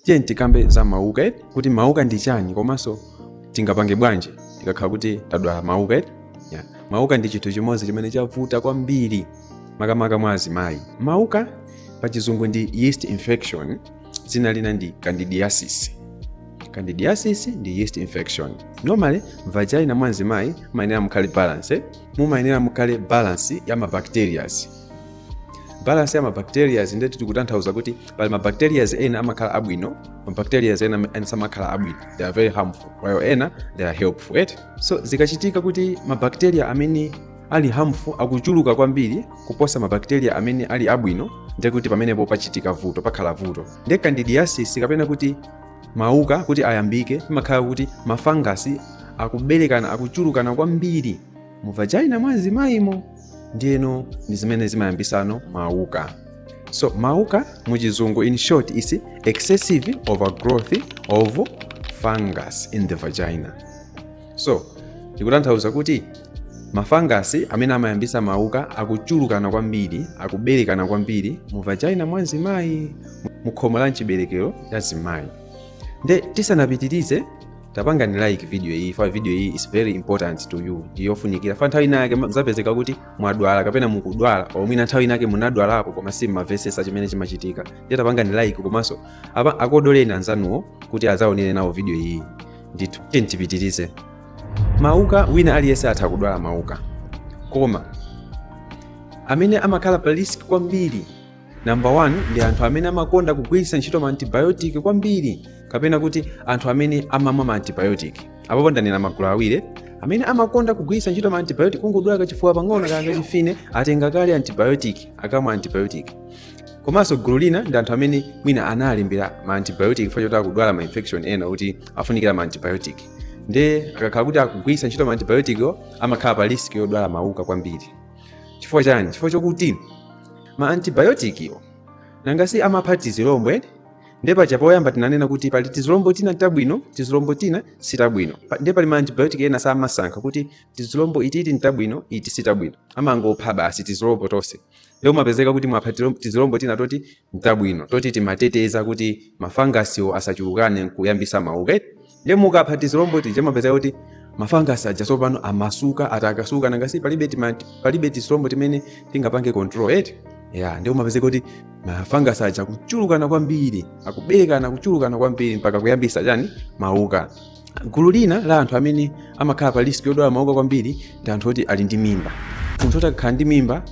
tiye tikambe za mauka eti kuti mauka ndi chiyani komanso tingapange bwanji tikakhala kuti tadwala mauka eti yeah. mauka ndi chinthu chimodzi chimene chavuta kwambiri makamaka mwa azimayi mauka pa chizungu ndi yeast infection dzina lina ndi candidiasis candidiasis ndi yeast infection normally vagina mwa mzimayi mumayenera mukhale balance mumayenera mukhale balance ya mabacterias balance ya mabacteria nde tikutanthauza kuti pali mabacteria ena amakhala abwino mabacteria ena samakhala abwino they are very harmful while ena they are helpful right? so zikachitika kuti mabacteria amene ali harmful akuchuluka kwambiri kuposa mabacteria amene ali abwino nde kuti pamenepo pachitika vuto pakhala vuto nde candidiasis kapena kuti mauka kuti ayambike pamakhala kuti mafangasi akuberekana akuchulukana kwambiri mu vagina mwa mzimayimo ndiyeno ndi zimene zimayambisano mauka so mauka mu chizungu in short is excessive overgrowth of fungus in the vagina so tikutanthauza kuti mafangasi amene amayambisa mauka akuchulukana kwambiri akuberekana kwambiri mu vagina mwa mzimayi mu khomo la mchiberekero cha mzimayi nde tisanapitirize tapangani like video iyi fa video iyi is very important to you ndiyofunikira fa nthawi inayake muzapezeka kuti mwadwala kapena mukudwala or mwina nthawi inayake munadwalako koma simmamvetsetsa chimene chimachitika ndiye tapangani like komanso akodoleni anzanuwo kuti azaonere nawo video iyi ndithu tiyeni tipitirize mauka wina aliyense atha kudwala mauka koma amene amakhala pa risk kwambiri Number 1 ndi anthu amene amakonda kugwiritsa ntchito ma antibiotic kwambiri kapena kuti anthu amene amamwa ma antibiotic. Apo ndanena magulu awiri amene amakonda kugwiritsa ntchito ma antibiotic kungodwala kachifuwa pang'ono kanga chifine atenga kale antibiotic akamwa antibiotic. Komanso gulu lina ndi anthu amene mwina analembera ma antibiotic chifukwa choti akudwala ma infection ena kuti afunikira ma antibiotic. Nde akakhala kuti akugwiritsa ntchito ma antibiotic amakhala pa risk yodwala mauka kwambiri. Chifukwa chani? Chifukwa chokuti ma antibayotikiwo nanga si amapha tizilombo eti nde paja poyamba tinanena kuti pali tizilombo tina tabwino tizilombo tina sitabwino Pa- nde pali ma antibiotic ena samasankha kuti tizilombo ititi ntabwino iti sitabwino amangopha basi tizilombo tonse nde umapezeka kuti apha tilom- tizilombo tina toti ntabwino toti timateteza kuti mafangasiwo asachulukane nkuyambisa mauka eti ndiye mukapha tizilombo tija mapezeka kuti mafangasi aja tsopano amasuka atakasuka nanga si palibe tima- palibe tizilombo timene tingapange control eti ya ndiye umapeza kuti mafangasi aja kuchulukana kwambiri akuberekana kuchulukana kwambiri mpaka kuyambisa chani mauka gulu lina la anthu amene amakhala pa risk yodwala mauka kwambiri ndi anthu oti ali ndi mimba munthu oti akakhala ndi mimba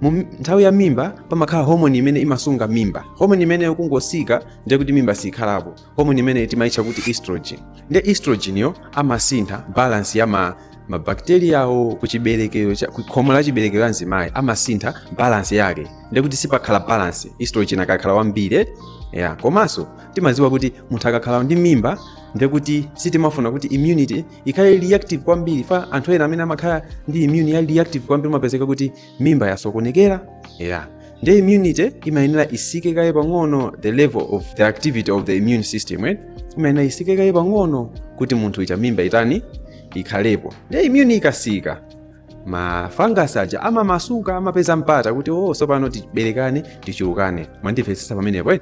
mu mi- nthawi ya mimba pamakhala homoni imene imasunga mimba homoni imeneyo kungosika ndiye kuti mimba siyikhalapo homoni imeneyi timaitcha kuti estrogen nde estrogen yo amasintha balance ya ma mabakteriyawo kuchiberekero cha ku khomo la chiberekero la mzimayi amasintha balance yake nde kuti sipakhala balance estrogen akakhala wambiri ya komanso timadziwa kuti munthu akakhala ndi mimba nde kuti sitimafuna kuti immunity ikhale reactive kwambiri fa anthu ena amene amakhala ndi immune ya reactive kwambiri umapezeka kuti mimba yasokonekera yeah nde immunity imayenera isike kaye pang'ono the level of the activity of the immune system right? imayenera isike kaye pang'ono kuti munthu i- mimba itani ikhalepo nde immune ikasika mafungus aja amamasuka amapeza mpata kuti o oh, sopano tiberekane tichulukane mwandimvetsetsa pamenepo eh?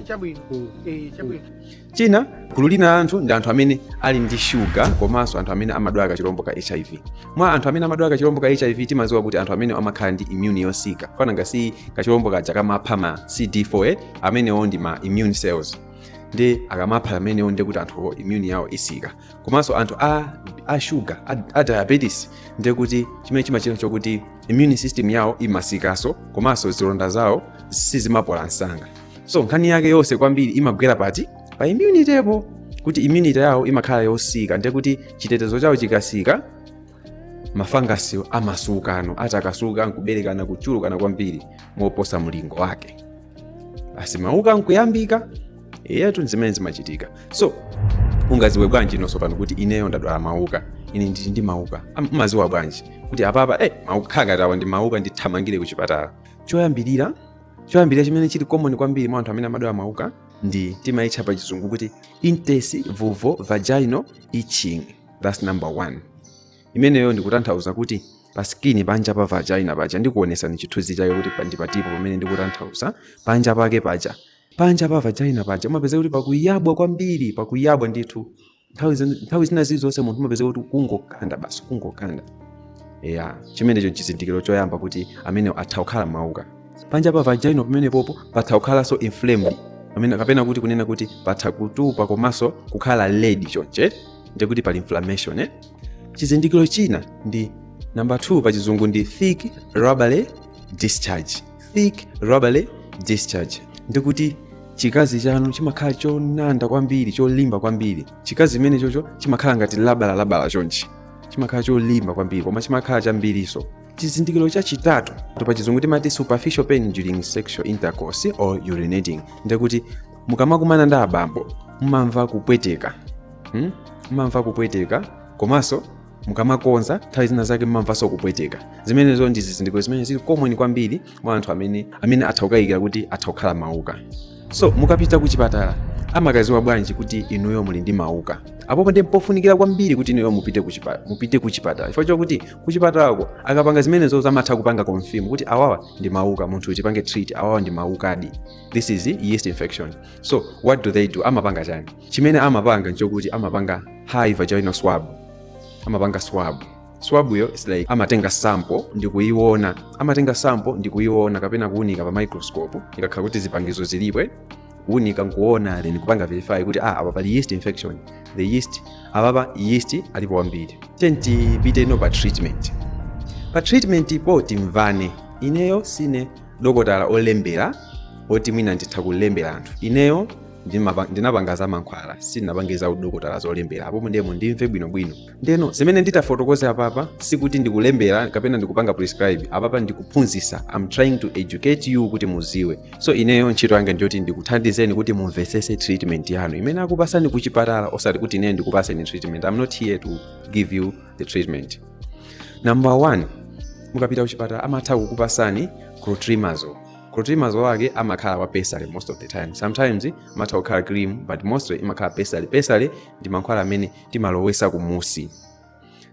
chabwino chabwino China, gulu lina la anthu ndi anthu amene ali ndi shuga komanso anthu amene amadwala kachilombo ka HIV. Mwa anthu amene amadwala kachilombo ka HIV timadziwa kuti anthu amenewa amakhala ndi immune yosika fa nanga si kachilombo kaja kamapha ma CD4 eh, amenewo ndi ma immune cells nde akamapha amenewo nde kuti anthuwo immune yawo isika komanso anthu a, a shuga a, a diabetes nde kuti chimene chimachita chokuti immune system yawo imasikanso komanso zilonda zawo sizimapola msanga so nkhani yake yonse kwambiri imagwera pati pa immunitypo kuti immunity yawo imakhala yosika ndiye kuti chitetezo chawo chikasika mafangasiwo amasukano atakasuka nkuberekana kuchulukana kwambiri moposa mlingo wake basi mauka nkuyambika eyetu nzimene zimachitika so ungaziwe bwanji inonso pano kuti ineyo ndadwala mauka ine ndili ndi mauka Am- umaziwa bwanji kuti apapa eh, mauka khangatawa ndi mauka ndithamangire ku chipatala choyambirira choyambirira chimene chili common kwambiri mwa anthu amene amadwala mauka ndi timaitcha pa chizungu kuti intense vulvo vaginal itching thats number one imeneyo ndikutanthauza kuti pa skini panja pa vagina paja ndikuonesani chithunzi chake kuti pa- ndi patipo pamene ndikutanthauza panja pake paja panja pa vagina paja umapezeka kuti pakuyabwa kwambiri pakuyabwa ndithu nthawi zin- nthawi zina zilizonse munthu umapezeka kuti kungokanda basi kungokanda ya chimenecho chizindikiro choyamba kuti amenewo atha kukhala mauka panja pa vagina pamenepopo patha kukhalanso inflamed pamene kapena kuti kunena kuti patha kutupa komanso kukhala red chonchi nde kuti pali inflammation eh? chizindikiro china ndi namba 2 pa chizungu ndi thick rubbery discharge thick rubbery discharge ndikuti chikazi chanu chimakhala chonanda kwambiri cholimba kwambiri chikazi chimenechocho chimakhala ngati labala labala chonchi chimakhala cholimba kwambiri koma chimakhala chambirinso chizindikiro chachitatu pa chizungu timati superficial pain during sexual intercourse or urinating ndikuti mukamakumana ndi abambo mumamva kupweteka hmm? mumamva kupweteka komanso mukamakodza nthawi zina zake mmamvanso kupweteka zimenezo ndi zizindikiro zimene zili common kwambiri mwa anthu amene atha kukayikira kuti atha kukhala mauka so mukapita ku chipatala amakaziwa bwanji kuti inuyo muli ndi mauka apopo ndi pofunikira kwambiri kuti inuyo mupite ku chipa- mupite ku chipatala chifukwa chakuti ku chipatalako akapanga zimenezo amatha kupanga confirm kuti awawa ndi mauka munthu uyu tipange treat awawa ndi maukadi this is yeast infection so what do they do amapanga chani chimene amapanga nchokuti amapanga high vaginal swab amapanga swab swab yo is like amatenga sample ndi kuiona amatenga sample ndi kuiona kapena kuunika pa microscope ikakhala kuti zipangizo zilipo eh? kuunika nkuona then kupanga verify kuti ah apa pali yeast infection the yeast apapa yeast alipo wambiri then tipiteno pa treatment pa treatment po timvane ineyo sine dokotala olembera oti mwina nditha kulembera anthu ineyo ndimapa- ndinapanga za mankhwala sindinapange za udokotala zolembera apopo ndiye mundimve bwinobwino ndeno zimene nditafotokoze apapa sikuti ndikulembera kapena ndikupanga prescribe apapa ndikuphunzisa am trying to educate you kuti muziwe so ineyo ntchito yanga ndiyoti ndikuthandizeni kuti mumvesese treatment yanu imene akupasani kuchipatala osati kuti ineyo ndikupaseni treatment am not here to give you the treatment number one mukapita kuchipatala amatha kukupasani clotrimazole clotrimazole ake amakhala wa pessary most of the time sometimes amatha kukhala cream but mostly imakhala pessary pessary ndi mankhwala amene timalowesa kumusi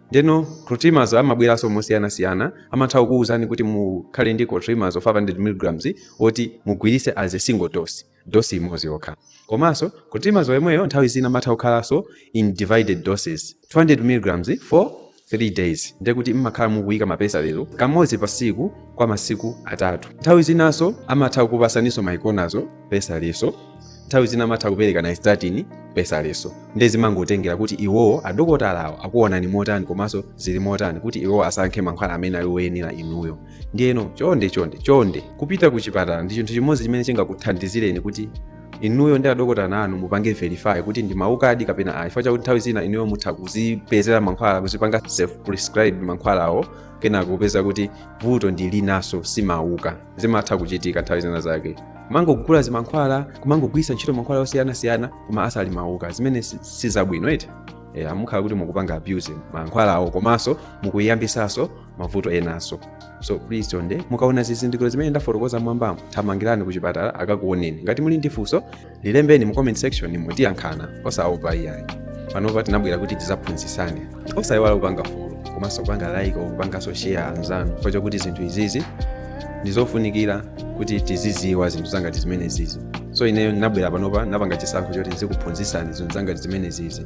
ndeno clotrimazole amabweranso mosiyanasiyana amatha kukuwuzani kuti mukhale ndi clotrimazole 500 mg woti mugwiritse as a single dose dosi imodzi yokha komanso clotrimazole yemweyo nthawi zina amatha kukhalanso in divided doses 200 mg for 3 days ndiye kuti mmakhala mukuyika ma pessary wo kamodzi pa siku kwa masiku atatu nthawi zinanso amatha kukupasaninso miconazole pessary so nthawi zina amatha kupereka nystatin pessary so ndiye zimangotengera kuti iwowo adokotalawo akuonani motani komanso zili motani kuti iwowo asankhe mankhwala amene ali oyenera inuyo ndiyeno chonde chonde chonde kupita ku chipatala ndi chinthu chimodzi chimene chingakuthandizireni kuti inuyo ndi adokotala anu mupange verify kuti ndi maukadi kapena ayi chifukwa chakuti nthawi zina inuyo mutha kuzipezera mankhwala kuzipanga self prescribe mankhwalawo kenako kupeza kuti vuto ndi linaso simauka zimatha kuchitika nthawi zina zake kumangogula zimankhwala kumangogwirisa ntchito mankhwala osiyanasiyana koma asali mauka zimene si- si zabwino eti yeah, mumakhala kuti mukupanga abuse mankhwalawo komanso mukuyambisaso mavuto enanso so please chonde mukaona zizindikiro zimene ndafotokoza mwambamo thamangirani ku chipatala akakuoneni ngati muli ndi funso lilembeni mu comment section muziyankhana osaopa iyayi panopa tinabwera kuti tizaphunzitsane osayiwala kupanga follow komanso kupanga like kupanganso share anzanu chifukwa chokuti zinthu izizi ndizofunikira kuti tiziziwa zinthu zangati zimene zizi so ineyo ndinabwera panopa napanga chisankho choti ndizikuphunzitsani zinthu zangati zimene zizi